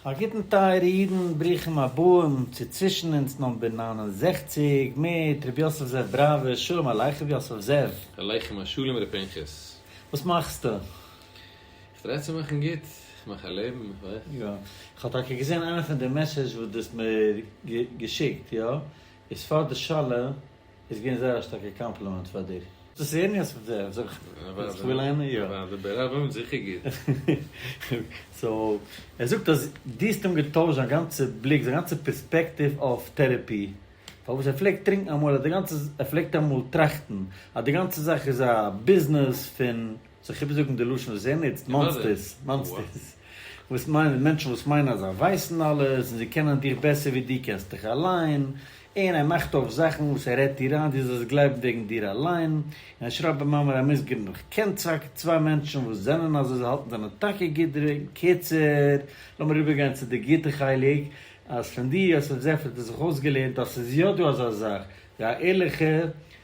א גוטן טייערע אידן, ברוכים הבאים צו צווישן אונז נאמבער נײַן און זעכציק מיט ר' יוסף זאב בראווער, שלום עליכם ר' יוסף זאב. עליכם השלום ר' פנחס. וואס מאכסטו? איך טריי צו מאכן גוט, איך מאך א לעבן, איך ווייס. יא, איך האב טאקע געזען איינע פון די מעסעדזש וואס דו האסט מיר געשיקט, יא, איז פאר די שאלה. איז געווען זייער א שטארקע קאמפלימענט פאר דיר. דאס איז ערניאס פון זיי, זאג איך, וואס איך וויל ענין, יא. פאר די בערעלע וואלן זיכער גוט. סאו, ער זאגט אז דו האסט אים געטוישט זיין גאנצע בליק, זיין גאנצע פערספעקטיוו אויף טערעפי, פארוואס ער פלעגט טרינקן אמאל, אז די גאנצע, ער פלעגט אמאל טראכטן אז די גאנצע זאך איז א ביזנעס פון. זיך איבערזאגן די לשון וואס ער נוצט, מאנסטערס, מאנסטערס, וואס מיינען, מענטשן וואס מיינען אז זיי ווייסן אלעס, און זיי קענען דיך בעסער ווי דו קענסט דיך אליין, און ער מאכט אויף זאכן וואס ער רעדט דיר איין דו זאלסט גלייבן וועגן דיר אליין, און ער שרייבט במאמר המוסגר נאך, קען צוויי צוויי מענטשן וואס זענען אזוי, זיי האלטן זענען טאקע גוט דערווועגן, קיצור, לאמיר איבערגיין צו די גוטע חלק, אז פון דו האסט עפעס עפעס זיך אויסגעלערנט אז ס'איז יא דא אזא זאך ווי א ערליכע.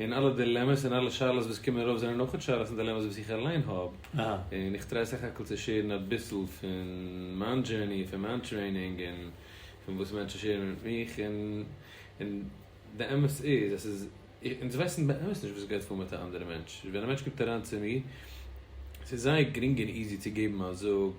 און אלע דילעמעס און אלע שאלות וואס קומען ארויף זענען אויכעט שאלות און דילעמעס וואס איך אליין האב, און איך טריי סך הכל צו שעירן אביסל פון מיין דזשערני, פון מיין טרעינינג, און פון וואס מענטשן שעירן מיט מיך, און די אמת איז אז ס'איז, אונז ווייסן באמת נישט וואס גייט פאר מיט א אנדערע מענטש, ווען א מענטש קומט אריין צו מיר, ס'איז זייער גרינג און איזי צו געבן א זאג,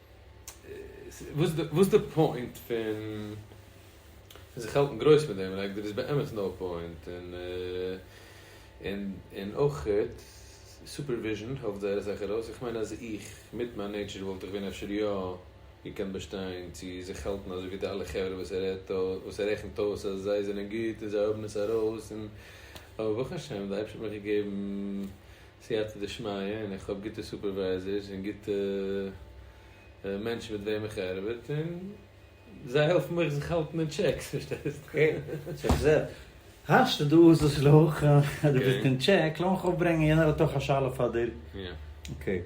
וואס איז די פוינט פון זיך האלטן גרויס מיט דעם, לייק דער איז באמת נאו פוינט, און אויך סופערוויזשען העלפט זייער אסאך ארויס, איך מיין אז איך מיט מיין נעיטשער וואלט איך ווען אפשר יא געקענט באשטיין צו זיך האלטן אזוי ווי די אלע חברה וואס ער רעדט וואס ער רעכנט אויס אז זיי זענען גוט און זיי האבן עס ארויס, און אבער ברוך השם די אייבערשטער האט מיר געגעבן סייעתא דשמיא און איך האב גוטע סופערווייזערס און גוטע מענטשן מיט וועם איך ארבעט און זיי העלפן אויך זיך האלטן אין טשעק, פארשטייסט? כן, סאו איך זע האסט דא איז עס לאך אז דו ביסט אין טשעק, לאמיך אויפברענגען יענער האט אויך א שאלה פאר דיר, אקעי,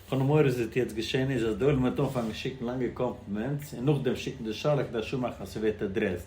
חול המועד וואס וועט יעצט געשען איז אז די עולם וועט אנפאנגען שיקן לאנגע קאמפלימענטס און נאכדעם שיקן די שאלה כדי שו מאכן אז ס'ווערט עדרעסד.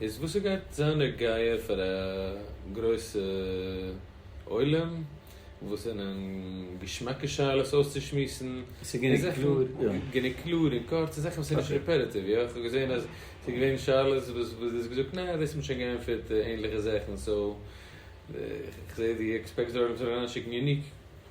איז וואס ס'גייט זיין דער גייער פאר א גרויסע עולם וואס זענען געשמאקע שאלות אויסצושמועסן, גענוג קלאר און קורץ, און זאכן וואס איז נישט רעפעטיטיוו, יא, כ'האב געזען אז ס'איז געווען שאלות וואס דו האסט געזאגט נעה דאס האט מען שוין געענטפערט, ענליכע זאכן, סאו כ'זע דו עקספעקטסט דארט זאלן אריינשיקן יוניק.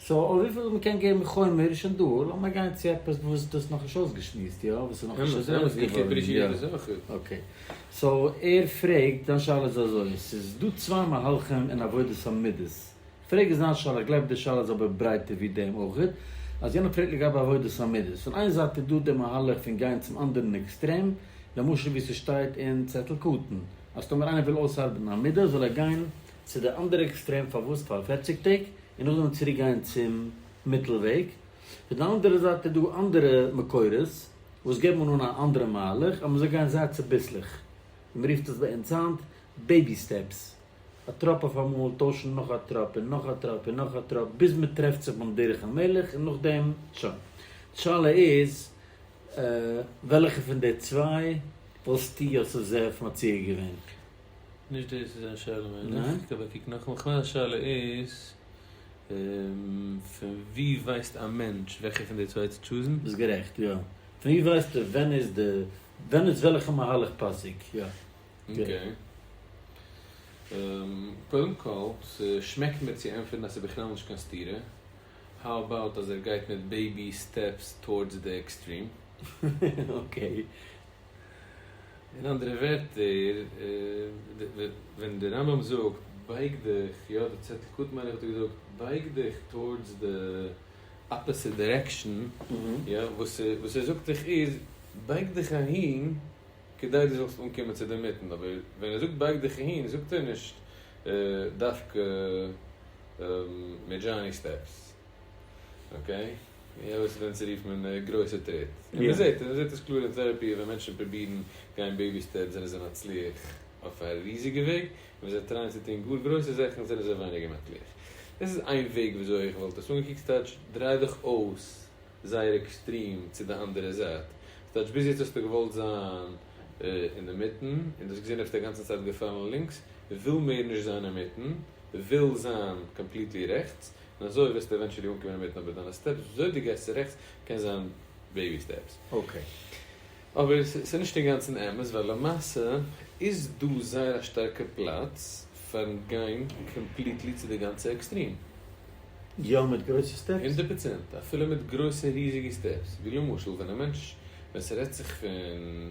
סאו אויף וויפיל מ'קען געבן חומר איז שוין דא, לאמיר גיין צו עפעס וואס דו האסט נאכנישט אויסגעשמועסט, יא? וואס איז נאכנישט אדורך געווארן. אקעי. סאו ער פרעגט, זיין שאלה איז אזוי, ס'איז דא צוויי מהלכים אין עבודת המידות. כ'פרעג איז זיין שאלה, כ'גלייב די שאלה איז אבער ברייטער ווי דעם אויכעט, אז יענער פרעגט לגבי עבודת המידות. פון איין זייט איז דא די מהלך פון גיין צום אנדערן עקסטרעם, למשל ווי ס'שטייט אין צעטל קטן, אז טאמער איינער וויל אויסארבעטן א מידה זאל ער גיין צו די אנדערע עקסטרעם פארוואס פאר פֿערציק טעג און נאכדעם צוריק גיין צום מיטל וועג, פון די אנדערע זייט איז דא אנדערע מקורות וואס געבן אן א אנדערע מהלך אז מען זאל גיין זייט צוביסלעך, ווי מען רופט עס ביי אונז היינט בעיבי סטעפס, א טראפ אויף אמאל טוישן נאך א טראפ און נאך א טראפ און נאך א טראפ ביז מען טרעפט זיך ביים דרך המלך און נאכדעם שוין. די שאלה איז וועלכע פון די צוויי וואלסטו יוסף זאב מציע געווען? נישט דאס איז זיין שאלה מיין איך, כ'האב געקוקט נאכאמאל, כ'מיין אז שאלה איז פון ווי ווייסט א מענטש וועלכע פון די צוויי צו טשוזן. ביסט גערעכט יא, פון ווי ווייסטו ווען איז די, ווען איז וועלכע מהלך פאסיג, יא. אקעי. קודם כל, ס'שמעקט מיר צו ענטפערן אז ס'איז בכלל נישט קיין סתירה, האו אבאוט אז ער גייט מיט בעיבי סטעפס טאורדס די עקסטרים. אקעי. אין אנדערע ווערטער, ווען די רמב ם זאגט בייג דיך, יא די צעטל קטן מיין איך האט ער געזאגט, בייג דיך טאורדס די אפעסיט דירעקשאן, יא, וואס וואס ער זאגט דיך איז, בייג דיך אהין כדי דו זאלסט אנקומען צו די מיטן, אבער ווען ער זאגט בייג דיך אהין זאגט ער נישט דווקא מיט דזשאני סטעפס, אקעי? יא וואס איז ווען צו רופן און גרויסע טריט און מען זעט און מען זעט עס קלאר און טעראפי ווען מענטשן פרובירן גיין בעיבי סטעפס זענען זיי מצליח אויף א ריזיגע וועג און ווען זיי טרייען צו טון גאר גרויסע זאכן זענען זיי ווייניגער מצליח דאס איז איין וועג ווי אזוי איך וואלט עס אנגעקוקט ס'טייטש דריי דיך אויס זייער עקסטרים צו די אנדערע זייט ס'טייטש ביז יעצט האסטו געוואלט זיין אינדערמיטן און דו האסט געזען האסטו א גאנצע צייט געפאלן לינקס וויל מער נישט זיין אינמיטן וויל זיין קאמפליטלי רעכטס. און אזוי וועסטו עווענטשעלי אנקומען אינמיטן אבער דיינע סטעפס וויאזוי דו גייסט צו רעכטס קען זיין בעיבי סטעפס. אקעי. אבער ס'איז נישט אינגאנצן אמת ווייל למעשה איז דא זייער א שטארקע פלאץ פארן גיין קאמפליטלי צו די גאנצע עקסטרים. יא מיט גרויסע סטעפס. הונדערט פראצענט אפילו מיט גרויסע ריזיגע סטעפס ווי למשל ווען א מענטש ווען ס'רעדט זיך פון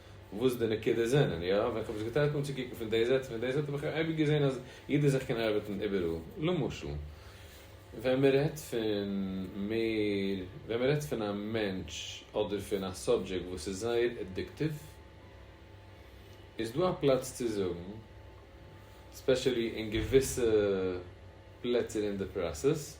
וואס די נקודות זענען, יא, ווען כ'האב עס געטרייט אנצוקוקן פון די זייט און פון די זייט האב איך אייביג געזען אז יעדער זאך קען ארבעטן איבעראל, למשל, ווען מען רעדט פון מער, ווען מען רעדט פון א מענטש אדער פון א סאבדזשעקט וואס איז זייער עדיקטיוו, איז דא א פלאץ צו זאגן, ספעשעלי אין געוויסע פלעצער אין די פראסעס,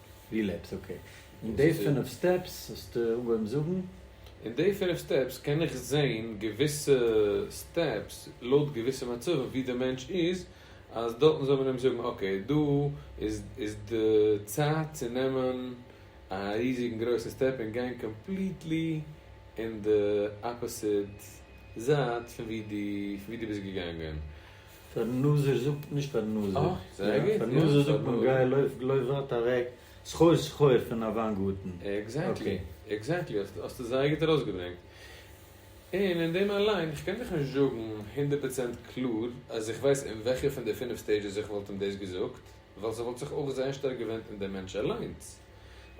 ווי לעבסט אקעי. און די פינף סטעפס האסטו אנגעהויבן זאגן? און די פינף סטעפס קען איך זעהן געוויסע סטעפס לויט געוויסע מצבים ווי די מענטש איז אז דארטן זאל מען אים זאגן אקעי דא איז די צייט צו נעמען א ריזיגן גרויסן סטעפ און גיין קאמפליטלי אין די אפאסיט זייט פון ווי דו ביסט געגאנגען פארן נזיר זאגט נישט פארן נזיר. פארן נזיר זאגט מען גיי לויף גלויף ווארט אוועק סחור סחור פון א וויין גארטן. עקזעקטלי, עקזעקטלי, האסטו זייער גוט ארויסגעברענגט. און אין דעם אליין, איך קען דיך נישט זאגן הונדערט פראצענט קלאר אז איך ווייס אין וועלכע פון די פינף סטעידזשעס איך וואלט אים דאס געזאגט, ווייל ס'וואלט זיך אויך זייער שטארק געווענדט אין דעם מענטש אליינס.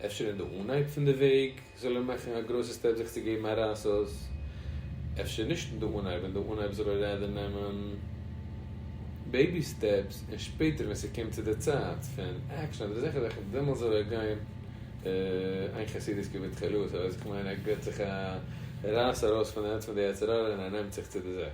אפשר אין די אנהייב פון די וועג זאל ער מאכן א גרויסע סטעפ זיך צו געבן א רייס אויס, אפשר נישט אין די אנהייב, אין די אנהייב זאל ער רעדער נעמען בעיבי סטעפס און שפעטער ווען ס'קומט צו די צייט פון עקשאן אדער אזעלכע זאכן דעמאלטס זאל ער גיין איין חסידות כבתחלה, סאו אז איך מיין ער געבט זיך א רייס ארויס פון די הענט פון די יצר הרע און ער נעמט זיך צו די זאך.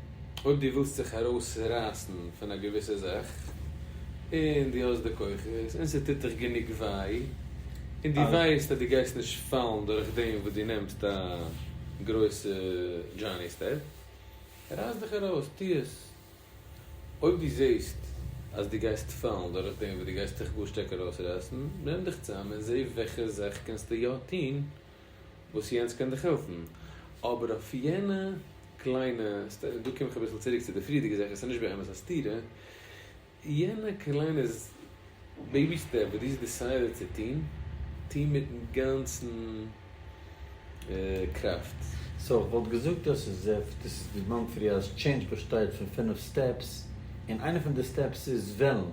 אויב דו ווילסט זיך ארויסרייסן פון א געוויסע זאך, און דו האסט די כוחות, און ס'טוט דיך גענוג וויי, און דו ווייסט אז דו גייסט נישט פאלן דורך דעם וואס דו נעמסט א גרויסע דזשאני סטעפ, רייס דיך ארויס, טו עס. אויב דו זעסט אז דו גייסט פאלן דורך דעם וואס דו גייסט דיך גאר שטארק ארויסרייסן, נעם דיך צאם און זע וועלכע זאך קענסטו יא טון, וואס יענץ קען דיך העלפן, אבער אויף יענע קליינע, דא קום איך אביסל צוריק צו די פריערדיגע זאך, עס איז נישט באמת א סתירה, יענע קליינע בעיבי סטעפ וואס דו האסט דיסיידעט צו טון, טו מיטן גאנצן קראפט. סאו איך וואלט געזאגט דאס איז זיפט, דאס איז די מאנטריאל טשעינדזש באשטייט פון פֿינף סטעפס, און איינע פון די סטעפס איז וועלן.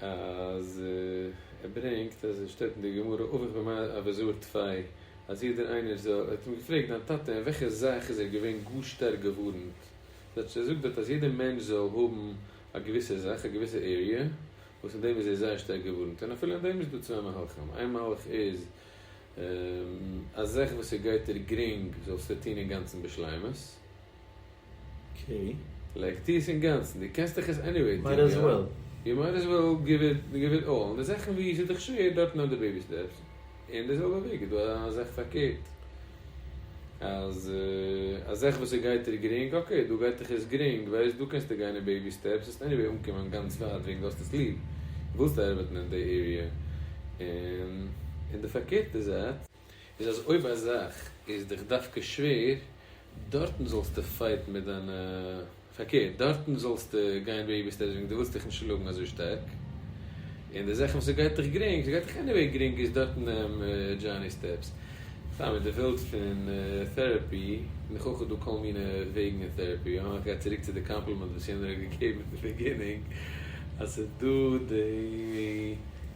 אז ער ברענגט אז עס שטייט אין די גמרא אבוך במאי אביזור תפאי אז יעדער איינער זאל ער האט אים געפרעגט דיין טאטע אין וועלכע זאך איז ער געווען גאר שטארק געווארענט זאגט ער זאגט דארט אז יעדער מענטש זאל האבן א געוויסע זאך א געוויסע עריע וואס אין דעם איז ער זייער שטארק געווארענט און אפילו אין דעם איז דא צוויי מהלכים איין מהלך איז א זאך וואס ס'גייט דיר גרינג זאלסטו טון אינגאנצן בשלימות. אקעי. לייג טוה עס אינגאנצן, דו קענסט דאך עס עניוועי טוהן, יא? יו מייט עז וועל גיוו איט גיוו איט אלל, און די זאכן וואו ס'איז דיך שווער, דארט נעם די בעיבי סטעפס, אין די זעלבע וועג איז דא א זאך פארקערט, אז א זאך וואס עס גייט דיר גרינג, אקעי, דא גייט דיך עס גרינג, ווייסט, דא קענסטו גיין אין בעיבי סטעפס, וועסט עניוועי אנקומען גאנץ ווייט וועגן דו האסט עס ליב, ווילסט ארבעטן אין די עריע, און אין די פארקערטע זייט, איז אז אויב א זאך איז דיך דווקא שווער, דארטן זאלסטו פייטן מיט דיינע, פארקערט, דארטן זאלסטו גיין בעיבי סטעפס וועגן דו ווילסט דיך נישט שלאגן אזוי שטארק, און די זאכן וואס עס גייט דיך גרינג, ס'גייט דיך עניוועי גרינג איז דארטן נעם דזשאני סטעפס. סתם אויב דו ווילסט פון טעראפי, נאך איך האב דא כל מיני וועגן אין טעראפי, יא, איך גיי צוריק צו די קאמפלימענט וואס יענער האט געגעבן אין די ביגינינג אז ס'דא די.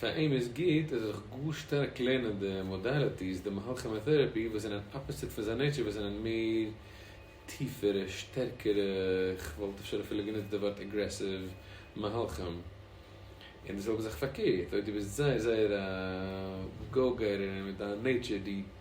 פאר אים איז גוט ער זאל זיך גאר שטארק לערנען די מאדאליטיס, די מהלך כימאטערעפי, וואס זענען אפאזיט פון זיין נעטשער וואס זענען מער טיפערע, שטערקערע, כ'וואלט אפשר אפילו גענוצט די ווארט אגרעסיוו, מהלכים. און די זעלבע זאך פארקערט, אויב דו ביסט זייער זייער א גאו געטער און מיט דיין נעטשער דו.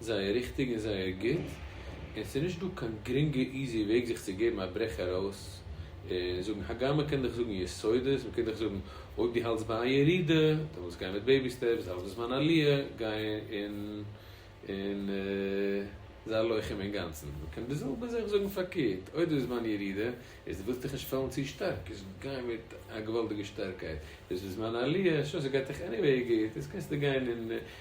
זייער ריכטיג און זייער גוט, און ס'איז נישט דא קיין גרינגע איזי וועג זיך צו געבן א ברעך ארויס און זאגן, הגם מען קען דאך זאגן יסודות, מען קען דאך זאגן אויב דו האלטסט ביי א ירידה, דעמאלטס גיי מיט בעיבי סטעפס, האלטסט בזמן עליה, גיי און און זיי לוחם אינגאנצן, מען קען דאס זעלבע זיך זאגן פארקערט, אויב דו ביסט בזמן ירידה, איז דו ווילסט דיך נישט פאלן צו שטארק, איז גיי מיט א געוואלדיגע שטארקייט, דו ביסט בזמן עליה, שוין ס'גייט דיך עניוועי גוט, איז קענסטו גיין און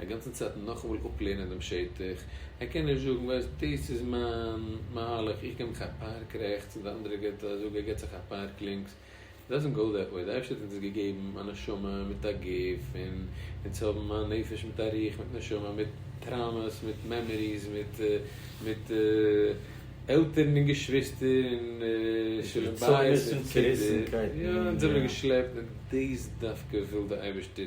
א גאנצע צייט נאכאמאל אפלערנען דעם שטח, ער קען נישט זאגן ווייסט דאס איז מיין מהלך איך גיב מיך א פארק רעכטס און די אנדערע גייט א זאג ער גיבט זיך א פארק לינקס, דאזענט גאו דעט וועי, די אייבערשטער האט אונז געגעבן א נשמה מיט א גוף און אונז האבן א נפש מיט א רוח מיט נשמה מיט טראומעס מיט מעמעריס מיט מיט עלטערן און געשוויסטער און שלום בית און קינדער, יא אונז האבן מיר געשלעפט און דאס דווקא וויל די אייבערשטער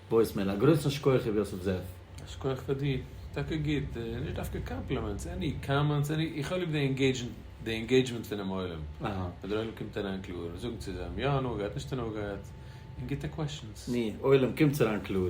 וואויסמעיל, א גרויסן שקויעך ר' יוסף זאב. א שקויעך פאר דיר. טאקע גוט, נישט דווקא קאמפלימענטס, עני קאמענטס, עני, איך האב ליב די ענגעידזשן, די ענגעידזשמענט פונעם עולם, ווען דער עולם קומט אריין קלאר, זאגן צוזאם, יא הנאה געהאט, נישט הנאה געהאט, און גוטע קוועשאנס. ני, עולם קומטס אריין קלאר.